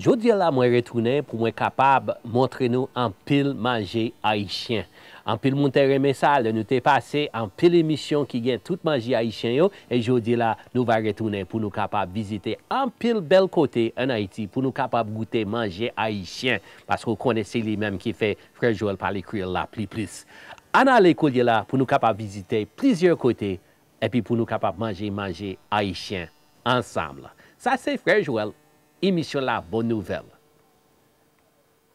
Jodia la mwen retounen pou mwen kapab montre nou anpil manje ayisyen. Anpil moun te renmen sa lè nou te pase anpil emisyon ki gen tout manje ayisyen yo e jodi la nou va retounen pou nou kapab vizite anpil bèl kote an Ayiti pou nou kapab goute manje ayisyen paske ou konnen se li menm ki fè Frè Joel pale kreyòl la pli plis. Ann ale koulye la pou nou kapab vizite plizyè kote epi pou nou kapab manje manje ayisyen ansanm. Sa se Frè Joel, emisyon la bon nouvèl.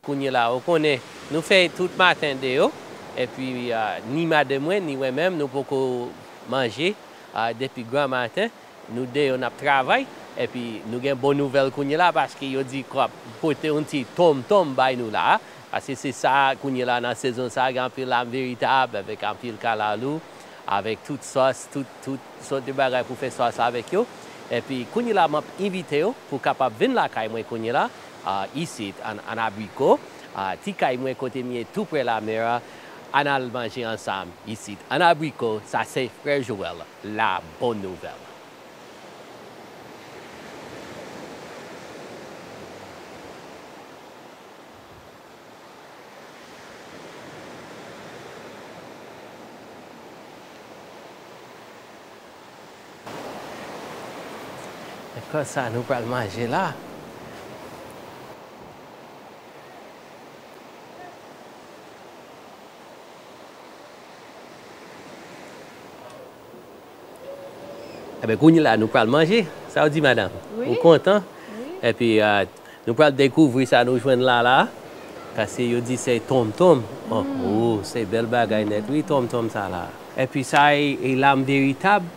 Kounye la ou konnen nou fè tout maten deyò epi ni madanm mwen ni wè menm nou poko manje depi granmaten Nou de yo nap travay epi nou gen bon nouvèl kounye la paske yo di kwap pote yon ti tonm tonm bay nou la paske se sa kounye la nan sezon sa gen anpil lam veritab avèk anpil kalalou avèk tout sòs tout tout sòt de bagay pou fè sòs avèk yo epi kounye la map envitew pou kapab vin lakay mwen kounye la isit an abriko ti kay mwen kote m ye tou prè lamè a ann al manje ansanm isit an abriko sa se frè Joel. La bonne nouvelle. Kòs sa nou pral manje la. Enben, kounye la, nou pral manje. Sa ou di, madanm? Ou kontan? Enpi, nou pral dekouvri sa nou jwenn la la. Pase yo di se tonmtonm. O, se bèl bagay nèt wi tonmtonm sa la. Enpi sa e lam de itab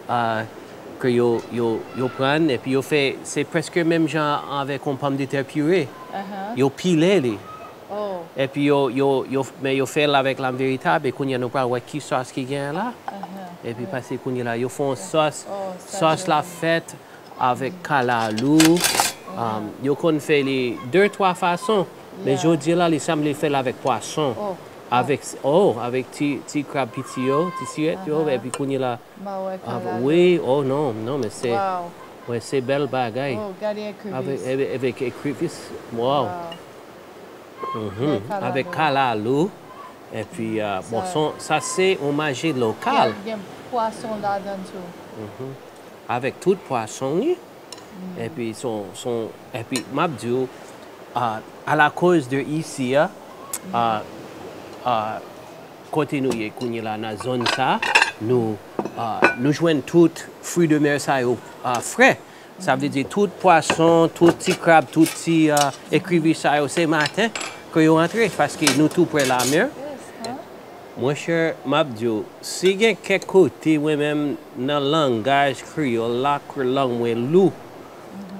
ke yo pran, enpi yo fè, se prèske menm jan avèk yon pòmdetè pire. Yo pile li. Oh. Epi yo yo yo men yo fèl avèk lam veritab e kounyea nou pral wè ki sòs ki genyen la epi pase kounye la yo fon sòs sòs la fèt avèk kalalou yo konn fè li de twa fason men jodi la li sanble fèl avèk pwason avèk oh avèk ti ti krab piti yo ti sirèt yo epi kounye la wi oh non non men se wè se bèl bagay avèk ekrevisse waw. Avèk kalalou epi bon son sa se yon maji lokal. Ki gen pwason ladan tou. Avèk tout pwason li epi son epi map diw alakòz de isi a kote nou ye kounye la nan zòn sa nou jwenn tout fri de mè sa yo frè. Sa vle di tout pwason, tout ti krab, tout ti ekribi sa yo se maten ke yo antre paske nou tou prè lamer. Mon chè map di w si gen kèk kote mwen menm nan langaj kreyòl la ke lang mwen lou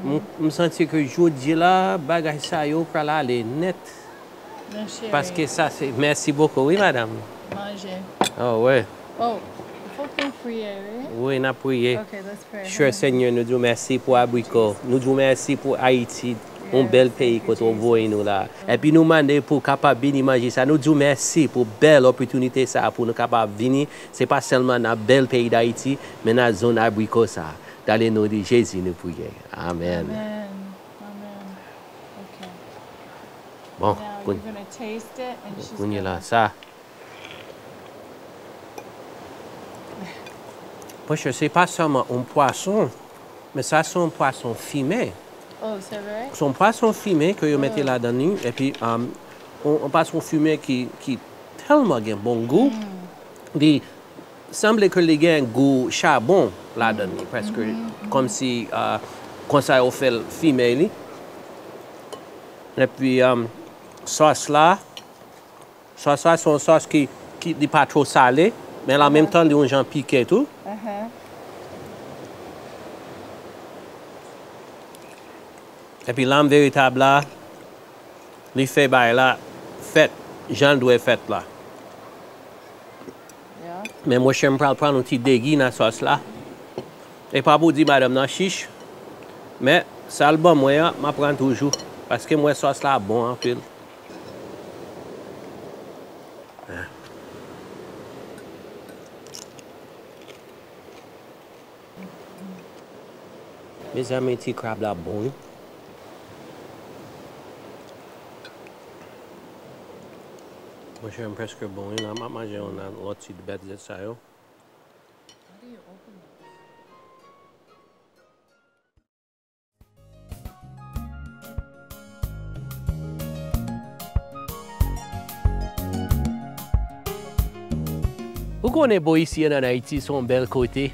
m santi ke jodi la bagay sa yo pral ale nèt Non chérie. Paske sa se merci beaucoup wi madame. Manje. Oh wi. Oh fok nou priye wi. Wi nap priye. Ok let's pray. Chè Senyè nou di w mèsi pou abriko, nou di w mèsi pou Ayiti, yon bèl peyi kote w voye nou la. Epi nou mande pou w kapab beni manje sa, nou di w mèsi pou bèl opòtinite sa pou nou kapab vini, se pa sèlman nan bèl peyi Dayiti, men nan zòn abriko sa. Dale non de Jezi nou priye. Amen. Amen ok bon kounye la sa monchè se pa sèlman yon pwason men sa se yon pwason fime oh se vre se yon pwason fime ke yo mete ladan li epi yon pwason fime ki tèlman gen bon gou li Sanble ke li gen gou chabon ladan li preske kom si konsa yo fel fime li. Epi sos la, sos la son sos ki li pa two sale men an menm tan li yon jan pike tou. Epi lam veritab la li fe bagay la fet janl dwe fet la. Men monchè m pral pran yon ti degi nan sòs la. E pa pou di madanm nan chich. Men sa l ban mwen an m ap pran toujou. Paske m wè sòs la bon anpil. Mezanmi ti krab la bon wi. Monchè m preske bon wi la map manje yon lòt ti bèt zèt sa yo. Ou konnen boo isi an Ayiti son bèl kote.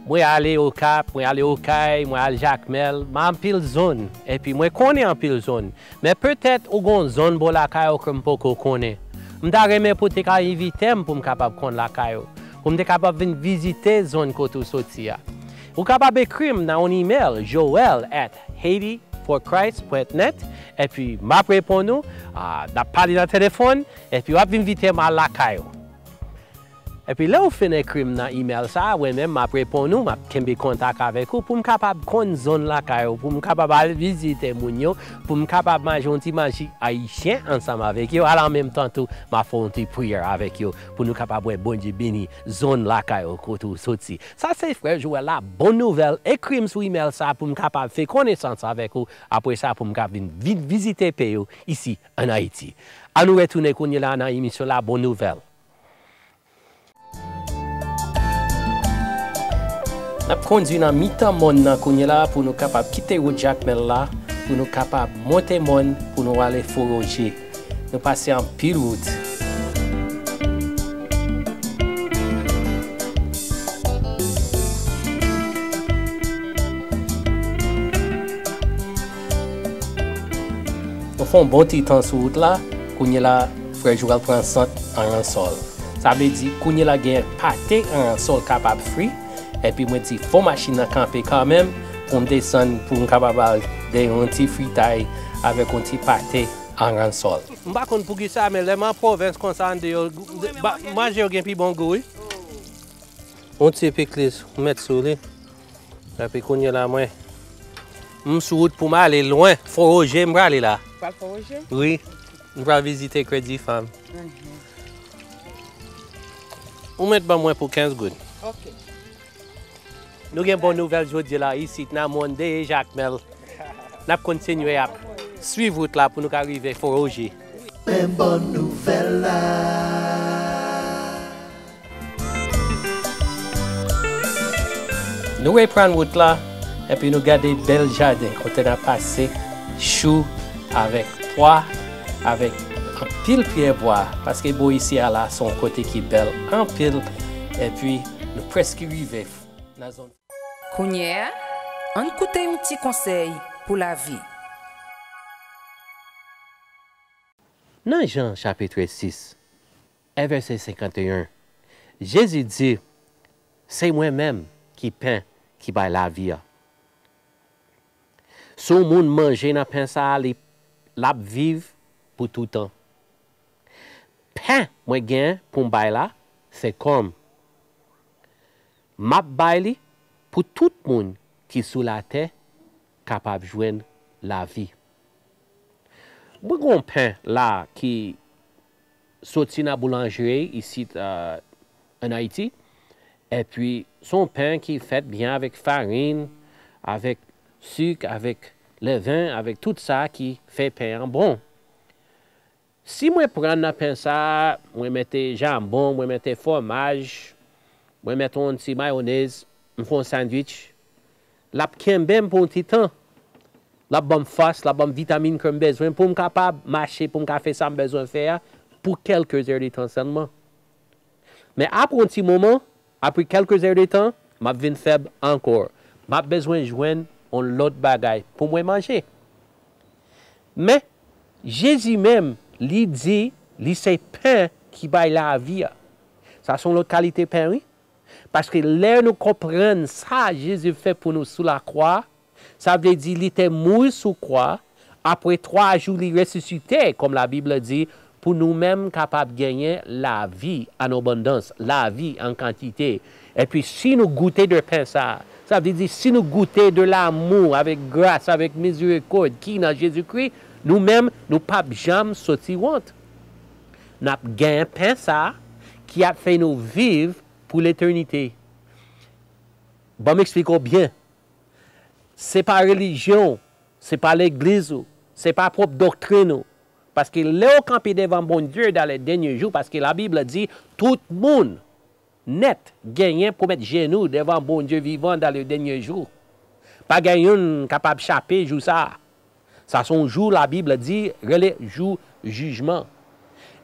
Mwen ale Okap, mwen ale Okay, mwen al Jakmèl, m al anpil zòn epi mwen konnen anpil zòn. Men petèt ou gon zòn bò lakay ou ke m poko konnen. M ta renmen pou te ka envite m pou m kapab konn lakay ou, pou m te kapab vin vizite zòn kote ou soti a. Ou kapab ekri m nan yon imèl joel at haitiforchrist pwent nèt epi m ap reponn ou, n ap pale nan telefòn epi w ap vin envite m al lakay ou. Epi lè ou fin ekri m nan imèl sa a, mwen menm m ap reponn ou, m ap kenbe kontak avèk ou pou m kapab konn zòn lakay ou, pou m kapab al vizite moun yo, pou m kapab manje yon ti manje ayisyen ansanm avèk yo, al an menm tan tou m ap fè yon ti priyè avèk yo pou nou kapab wè Bondye beni zòn lakay ou kote ou soti. Sa se frè Joel la bon nouvel ekrim sou email sa poum kapab fé konesans avek ou apre sa poum ka vin vizite pey ou isi an ayiti a nou retounen kounye la nan emisyon la bon nouvel. Nap kondwi nan mitan mòn nan kounye la pou nou kapab kite wout jakmèl la pou nou kapab monte mòn pou nou ale foroje. Nou pase anpil wout. Nou fè yon bon ti tan sou wout la. Kounyela frè Jou pral pran sant aransòl. Sa vle di kounyela gen pate aransòl kapab fri. Epi mwen di fò machin nan kanpe kanmenm pou m desann pou m kapab al gen yon ti fritay avèk yon ti pate aransòl. M pa konn poukisa men lè m an pwovens konsa an deyò manje yo gen pi bon gou wi. Yon ti pikliz ou met sou li. Epi kounye la mwen m sou wout pou m ale lwen. Fò Roje m prale la. Ou pral fò Roje? Wi. M pral vizite kredi fanm. Ou mèt ban mwen pou 15 goud. Ok. Nou gen bon nouvèl jodi la isit nan mòn Deye Jakmèl. N ap kontinye ap swiv wout la pou nou ka rive Fon Roje. Men bon nouvèl la. Nou reprann wout la epi nou gade bèl jaden kote n a pase chou avèk pwa avèk anpil pyè bwa paske bò isi a la se yon kote ki bèl anpil epi nou prèske rive nan zòn Kounye a, ann koute yon ti konsèy pou lavi. Nan Jan chapitre 6, 1 vèsè 51 Jezi di, Se mwen menm ki pen ki bay lavi a. Si yon moun manje nan pen sa a, li, l ap viv pou toutan. Pen mwen gen pou m bay la, se kò m. M ap bay li pou tout moun ki sou latè kapab jwenn lavi. Mwen gen yon pen la a ki. soti nan boulanjri isit an Ayiti, epi se yon pen ki fèt byen avèk farin, avèk sik, avèk lèven, avèk tout sa ki fè pen an bon. Si mwen pran nan pen sa, mwen mete janbon, mwen mete fwomaj, mwen mete yon ti mayonèz, m fè yon sandwich, L ap kenbe m pou yon ti tan. L ap ban m fòs, l ap ban m vitamin ke m bezwen pou m kapab mache, pou m ka fè sa m bezwen fè a pou kèlke zè de tan sèlman. Men apre yon ti moman, apre kèlke zè de tan, m ap vin fèb ankò. M ap bezwen jwenn yon lòt bagay pou mwen manje. Men, Jezi menm, li di li se pen ki bay lavi a. Sa se yon lòt kalite pen wi. Paske lè nou konprann sa Jezi fè pou nou sou lakwa, sa vle di li te mouri sou kwa, apre twa jou li resisite, kòm Labib la di, pou nou menm kapab genyen lavi an abondans, lavi an kantite. Epi si nou goute de pen sa a, sa vle di si nou goute de lamou avèk gras avèk mizirikòd ki nan Jezikri, nou menm nou pap janm soti wont. N ap gen pen sa a ki ap fè nou viv pou letènite. Ban m esplike w byen. Se pa relijyon w, se pa legliz ou, se pa pwòp doktrin ou. Paske lè w kanpe devan Bondye dan lè dènye jou, paske Labib di, tout moun. nèt genyen pou met jenou devan Bondye vivan dan le dènye jou. Pa gen youn kapab chape jou sa a. Sa son jou la Bib di rele jou jijman.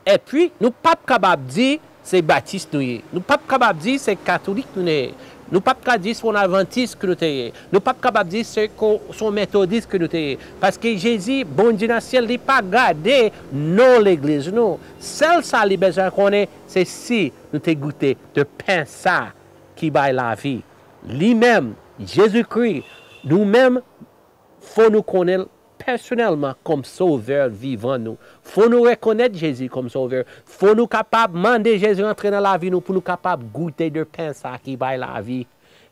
Epi nou pap kabab di se batis nou ye, nou pap kabab di se katolik nou ye, nou pap ka di son advantis ke nou te ye, nou pap kabab di se ko son metodis ke nou te ye, paske Jezi Bondye nan syèl li pa gade non legliz nou, sèl sa li bezwen konnen se si nou te goute de pen sa a ki bay lavi, li menm, Jezikri, nou menm fò nou konnen l pèsonèlman kòm Sovè vivan nou. Fò nou rekonèt Jezi kòm Sovè. Fò nou kapab mande Jezi antre nan lavi nou pou nou kapab goute de pen sa a ki bay lavi.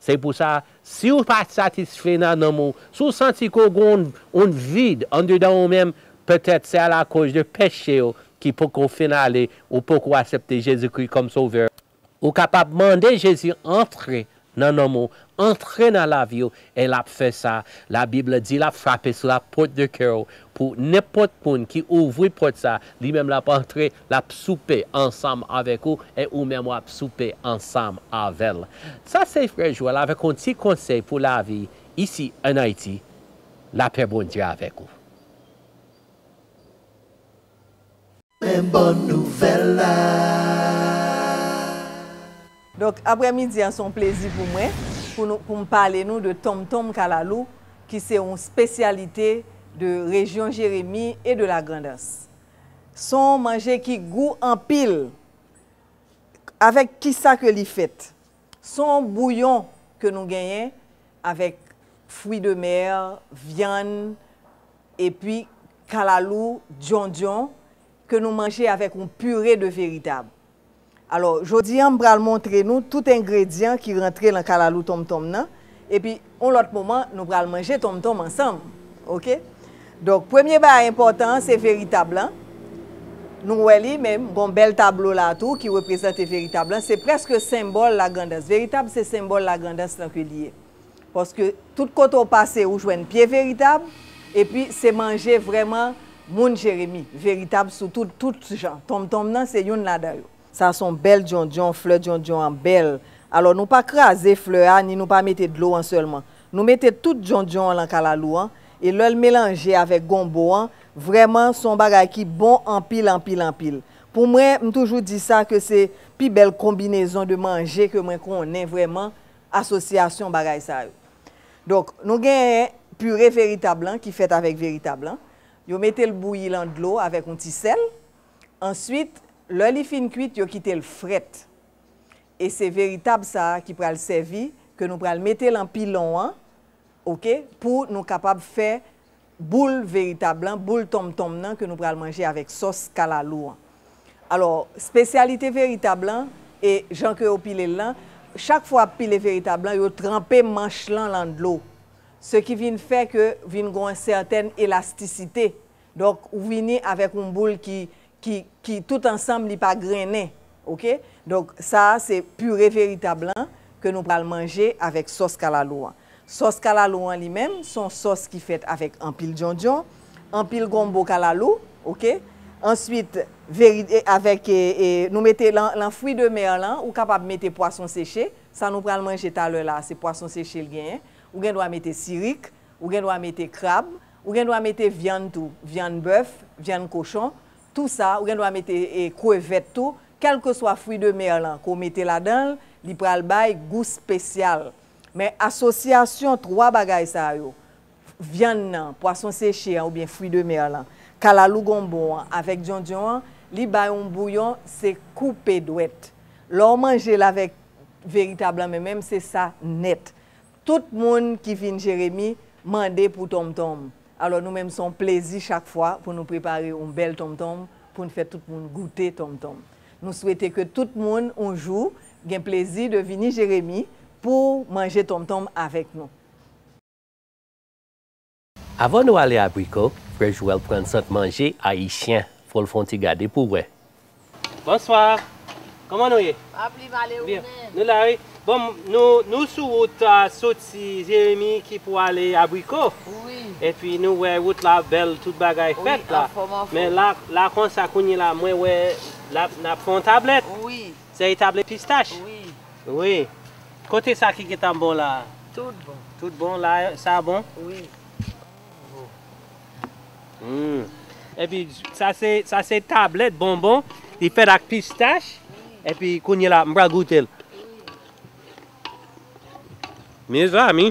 Se pou sa, si w pa satisfè nan nanm ou, si w santi ke w gen yon vid andedan ou menm, petèt se alakòz de peche w ki poko fin ale, ou poko asepte Jezikri kòm Sovè w, ou kapab mande Jezi antre nan nanm ou, antre nan lavi w, e l ap fè sa. Labib la di l ap frape sou lapòt de kè w, pou nenpòt moun ki ouvri pòt sa a, Li menm l'ap antre, l'ap soupe ansanm avèk ou, e ou menm w'ap soupe ansanm avè l. Sa se frè Joel avèk yon ti konsèy pou lavi isi an Ayiti, lapè Bondye avèk ou. Men bon nouvèl la. Donk aprè midi an se yon plezi pou mwen pou nou pou m pale nou de tonmtonm kalalou ki se yon spesyalite de rejyon Jeremi e de la Grandans. Son yon manje ki gou anpil avèk kisa ke li fèt? Son yon bouyon ke nou genyen avèk fwi de mer, vyann epi kalalou, dyondyon ke nou manje avèk yon pire de veritab. Alò, jodi an m pral montre nou tout engredyan ki rantre lan kalalou tonmtonm nan, epi on lòt moman nou pral manje tonmtonm ansanm, ok. Donk premye bagay enpòtan an se veritab lan, nou wè li men gon bèl tablo la a tou ki reprezante veritab lan, se prèske senbòl lagrandans, veritab se senbòl lagrandans lan ke li ye. Paske tout kote w pase ou jwenn pye veritab epi se manje vrèman moun jeremi veritab sou tout tout jan tonmtonm nan se youn ladan yo. Sa son bèl dyondyon, flè dyondyon an bèl. Alò nou pa kraze flè a ni nou pa mete dlo an sèlman. Nou mete tout dyondyon an lan kalalou an e lè l melanje avèk gonbo an vrèman son bagay ki bon anpil anpil anpil. Pou mwen m toujou di sa ke se pi bèl konbinezon de manje ke mwen konnen vrèman asosyasyon bagay sa yo. Donk, nou genyen pire veritab lan ki fèt avèk veritab lan. Yo mete l bouyi lan dlo avèk yon ti sèl. Answit, lè li fin kwit, yo kite l frèt. E se veritab sa a ki pral sèvi, ke nou pral mete lan pilon an, ok, pou nou kapab fè boul veritab lan, boul tonmtonm nan ke nou pral manje avèk sòs kalalou an. Alò, spesyalite veritab lan, e jan ke yo pile l lan, chak fwa ap pile veritab lan, yo tranpe manch lan lan dlo. Se ki vin fè ke vin gon yon sètèn elastisite. Donk, ou vini avèk yon boul ki ki ki tout ansanm li pa grennen ok donk sa a se pure veritab lan ke nou pral manje avèk sòs kalalou an sòs kalalou an li menm son sòs ki fèt avèk anpil djondjon anpil gonbo kalalou ok answit veri avèk nou mete lan lan fwi de mer lan ou kapab mete pwason seche sa nou pral manje talè la se pwason seche l genyen ou gendwa mete sirik Ou gen dwa mete krab, ou gen dwa mete vyann tou, vyann bèf, vyann kochon, tou sa, ou gen dwa mete krevèt tou, kèlkeswa fwi de mer lan ke w mete ladan l, li pral bay gou spesyal. Men asosyasyon 3 bagay sa yo, vyann nan, pwason seche an oubyen fwi de mer lan, kalalou gonbon an avèk dyondyon an, li bay yon bouyon se koupe dwèt. Lè w manje l avèk veritab lan menm menm se sa nèt. Tout moun ki fin Jeremi mande pou tonmtonm. Alò nou menm son plezi chak fwa pou nou prepare oun bèl tonmtonm poun fè tout moun goute tonmtonm. Nou swete ke tout moun oun jou gen plezi de vini Jeremi pou manje tonmtonm avèk nou. Avan nou ale abriko frè Joel pran sant manje ayisyen fol fon ti gade pou wè. Bonswa Koman nou ye? Byen Nou la wi Bon nou sou wout soti jeremi ki pou ale abriko epi nou wè wout la bèl tout bagay fèt la men la konsa kounye la mwen wè nap fè yon tablèt se tablèt pistach wi. Kote sa ki gentan bon la a? Tout bon. Tout bon la a, sa a bon? Wi. Humm. Epi sa se sa se tablèt bonbon li fèt ak pistach epi kounye la m pral goute l. Mezanmi.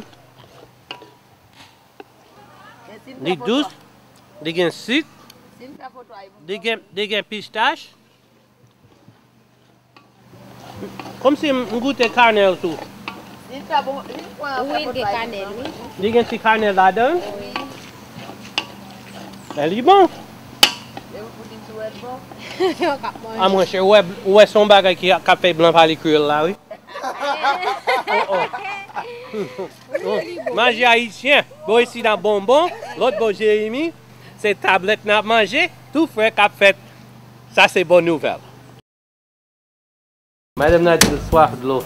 Li dous, li gen sik, li gen pistach. Komsi m goute kanèl tou. Li fè bon, li fwen an fè bon bagay. Wi, li gen kanèl wi. Li gen ti kanèl ladan l? Wi. Men li bon. E ou di sou wè l bon? Yo k ap manje. A mwen chè, ou wè se yon bagay ki ap fè blan pale kreyòl la wi. Manje ayisyen, bò isit ap bonbon, lòt bò Jeremi, se tablèt n ap manje, tou frè k ap fèt. Sa se bon nouvel. Madame nan dil swaf dlo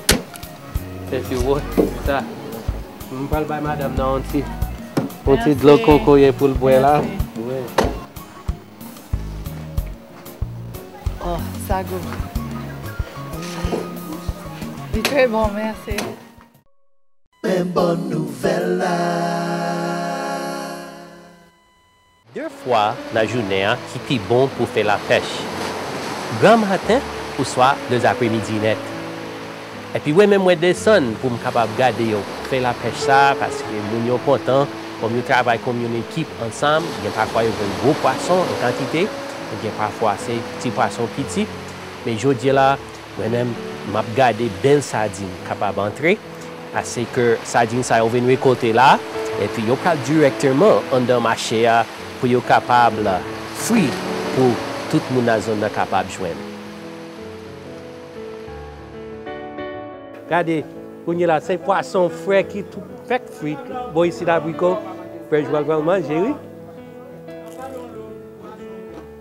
se ti wot sa m pral bay madame nan yon ti yon ti dlo kokoye poul bwè la wi. Oh sa gou. Li tre bon merci. Men bon nouvel la. De fwa nan jounen an ki pi bon pou fè lapèch, granmaten oswa lezapremidi nèt. Epi mwen menm mwen desann pou m kapab gade yo fè lapèch sa a paske moun yo kontan, kòm yo travay kòm yon ekip ansanm, gen pafwa yo jwenn gwo pwason an kantite, gen pafwa se ti pwason piti. Men jodi la. Mwen menm map gade bèl sadin kapab antre ase ke sadin sa yo vin rekolte la epi yo pral dirèkteman anndan mache a pou yo kapab fri pou tout moun nan zòn nan kapab jwenn. Gade, kounye la se pwason fre ki tou fèk fri bò isit la Briko, Pè Jwal pral manje wi.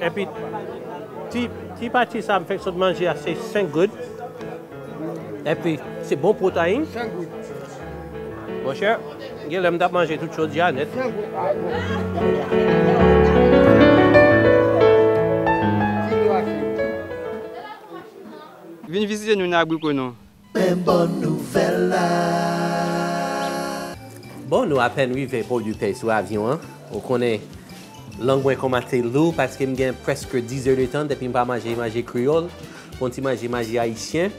Epi ti pati sa m fek sot manje a se 5 goud. Epi se bon protein. Monchè gen lè m tap manje tout chodyè a nèt. Vin vizite nou nan Abrikonon, Men bon nouvèl la. Bon nou apèn rive port du pay sou avyon an ou konnen lang mwen komanse lou paske m gen preske 10 heures de tan depi m pa manje manje kreyòl pou yon ti manje manje ayisyen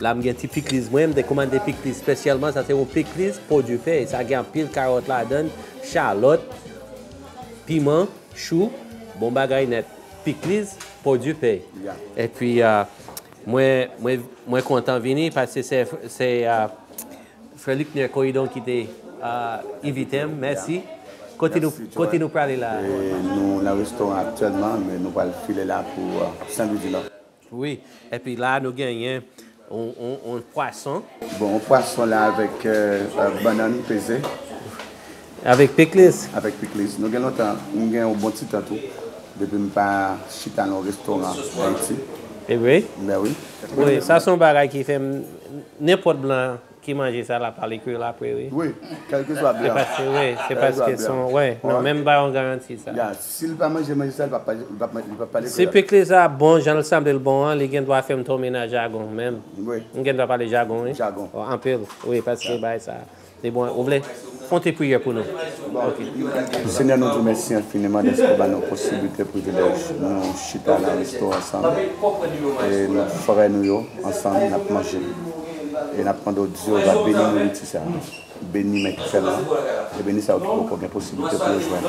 la m gen ti pikliz mwen m te komande pikliz spesyalman sa se yon pikliz port du pay sa gen anpil karòt ladann chalòt piman chou bon bagay nèt pikliz port du pay epi Mwen mwen kontan vini paske se se frè Luckner Coridon ki te envite m mèsi kote nou kote nou prale la a? Nou nan restoran aktyèlman men nou pral file la pou Sen Lwi di Nò. Wi epi la nou genyen yon pwason. Bon yon pwason la avèk bannann peze. Avèk pikliz? Avèk pikliz. Nou gen lontan, m gen yon bon ti tan tou, depi m pa chita nan yon restoran Ayiti. E vre? Ben wi. Wi, sa se yon bagay ki fè m, nenpòt blan ki manje sa l ap pale kreyòl apre wi. Wi, kèlkeswa blan. Se paske wi, se paske son, wi. Non, men m ba yon garanti sa. Ya, si l pa manje manje sa, li p ap pale, li p ap pale kreyòl. Si pikliz la bon jan l sanble l bon an, li gen dwa fè m tonbe nan jagon menm. Wi. M gen dwa pale jagon wi. Jagon. Anpil, wi, paske bagay sa. Se bon ou vle Konte priyè pou nou ok. Senyè nou diw mèsi enfiniman dèske ou ba nou posiblite, privilèj nou chita nan resto ansanm e nou frè nou yo ansanm nap manje e nap mande w Jewova beni nouriti sa beni men ki fè l lan e beni sa yo ki poko gen posiblite pou yo jwenn.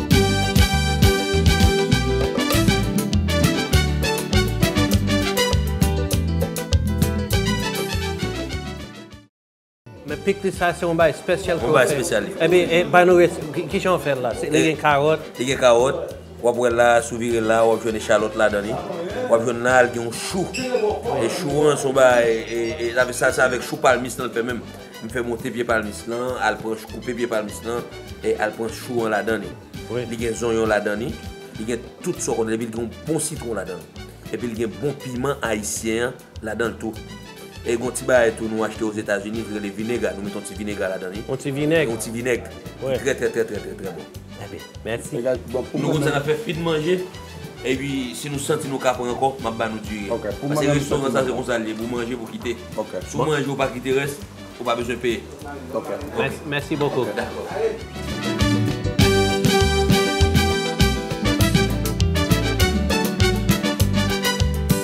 Men pikliz sa se yon bagay spesyal ke ou fè. Yon bagay spesyal li. Ebyen e bay nou resèt li. Kijan ou fèl la? Li gen karòt. Li gen karòt. Wap wèl la, si w vire l la wap jwenn echalòt ladan li. Wap jwenn la, li gen yon chou. E chou an se yon bagay e sa se avèk chou palmis lan l fè menm. M fè monte pye palmis lan, al pran chou, koupe pye palmis lan, e al pran chou an ladan li. Li gen zonyon ladan li, li gen tout sa w konnen, epi li gen yon bon sitwon ladan l. Epi li gen bon piman ayisyen an ladan l tou. E gen yon ti bagay tou nou achte ozetazini ki rele vinega, nou mete yon ti vinega ladan li. Yon ti vinèg. Yon ti vinèg. Ki trè trè trè trè trè bon. Ebyen, mèsi. Nou konn sa n ap fè fin manje, epi si nou santi nou ka pran ankò, m ap ba nou diri. Pase restoran sa se konsa l ye, pou w manje, pou w kite. Si w manje ou pa kite rès, ou pa bezwen peye. Ok. Mèsi bokou. Ok, dakò.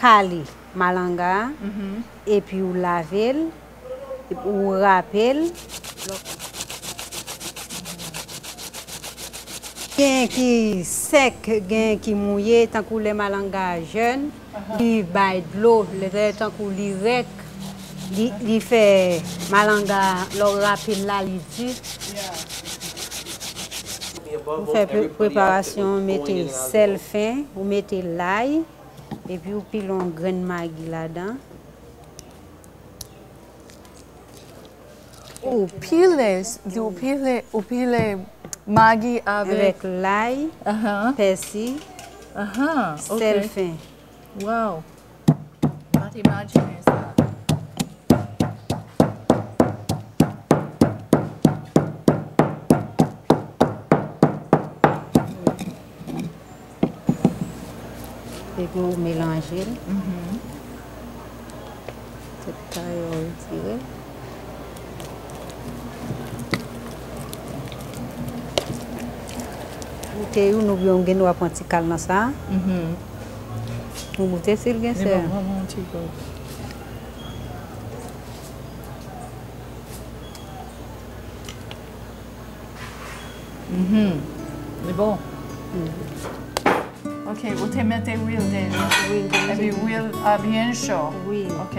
Kale malanga a epi ou lave l, ou rape l, lè w genyen ki sèk genyen ki mouye tankou lè malanga a jèn li bay dlo lè tankou li rèk li fè malanga a lè w rape l la li di ou fè preparasyon mete sèl fen ou mete lay. Epi ou pile yon grenn magi ladan. Ou pile, di ou pile, ou pile magi avèk. Avèk lay, pèsi, sèl fen. Waww. Mwen te imajine sa. Epi ou melanje l. Tout tan yo retire. Boute youn ou byen ou gen dwa pran ti kal nan sa. Ou boute si l gen sè. Mwen pran yon ti gòj. Mhmm li bon. Ok ou te mete lwil deja. Wi. Epi lwil a byen cho. Wi. Ok.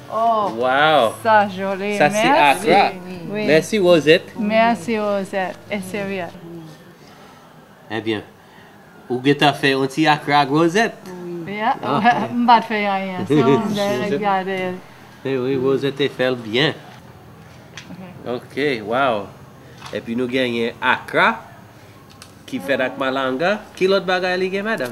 Waww sa joli merci rosette. Merci rosette e serye. Ebyen ou gentan fè yon ti akra ak rosette. M pat fè anyen se ou menm ki te gade l. Wi rosette te fèl byen. Ok waww epi nou genyen akra ki fèt ak malanga ki lòt bagay li gen madam.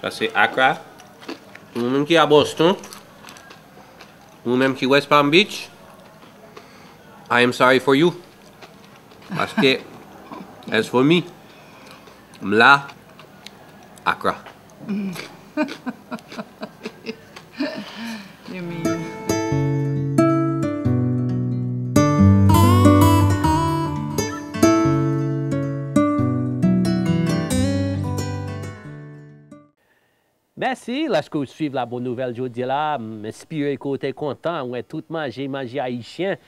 Sa se Accra. Pou nou menm ki a Boston, pou nou menm ki West Palm Beach, I am sorry for you. Paske, as for me, m la Accra. Mèsi lèske ou swiv la bon nouvèl jodi la m espire ke ou te kontan wè tout manje manje ayisyen